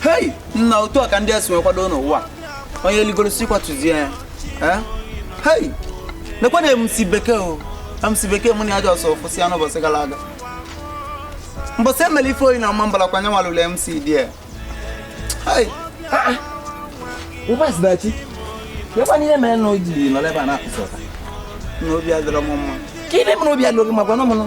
hei nna otu a ka ndị esi nwekwado n'ụwa onye eligoro si kwatuzie ya Eh? hei nekwa na MC Bekee o MC Bekee mụ na ya ji ọsọ ofụsi ya n'ụbọchị gara aga mbọsị emere ife oyi na Ọmambala kwa anya nwalụlụ mc there hei Ụbọchị dachi. Lekwa n'ihe mere na o ji nọrọ ebe a na-akụsị ọta. na obi adịrọ m mma Ka ibe m na obi alụghị makwa na ọmụnụ.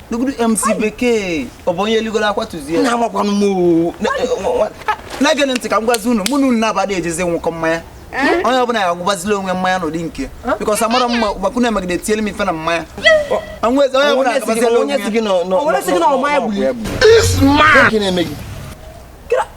Negodu MC Bekee ọ bụ onye eligoro akwatuzie nna amakwanụ m oo. Na- eh, nwa- nwa- na-egenụ ntị ka m gwazi unu mụ na unu na-abada ejezi ṅụkọ mmanya onye ọbụla ya agwụbazila onwe mmanya n'ụdị nke because amarọ m ma gbakwu na-emegide tiele m ife na mmanya Onwe- onye ọbụla agabazila onwe ya Onye si gị na ọ ma ya gburu ya? Gịnị na-eme gị?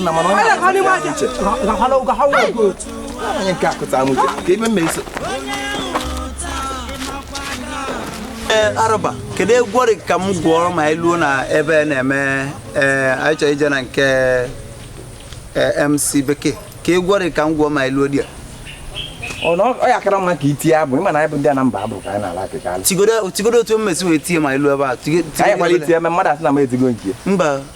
nna mana onye uche onye nke akụta m uche ka ebe mma eso ee arụba kedu egwu ọrị ka m gụọrọ ma anyị luo na ebe na-eme ee anyị chọrọ ije na nke ee, mc bekee ka egwu ọrị ka m gụọ ma anyị luo there ọ na ọ ya kara mma ka itie abụ ịma na anyị bụ ndị Anambra abụ ka anyị na-ala akịka alụ tigodo tigodo otu m esi wee tie ma anyị luo ebe a Tigo- tigodo anyị kwala obere. itie eme mmadụ asị na m etigo nke ya mba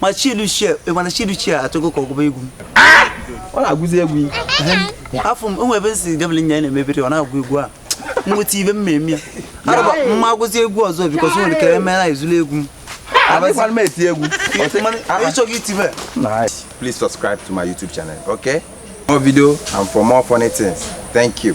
ma chieluchie mana chieluchie achọgo ka ọgụba egwu ọ na-agụzi egwu afụ m o nwe ebe si gabele nya na-emebere ọ na-agụ egwu a nweta ibe m eme ya arụba mma agụzi egwu ọzọ because nwere ka eme na ezulu egwu m abịakwara m eti egwu ịchọghị itibe please subscribe to my youtube channel okay more video and for more funny things thank you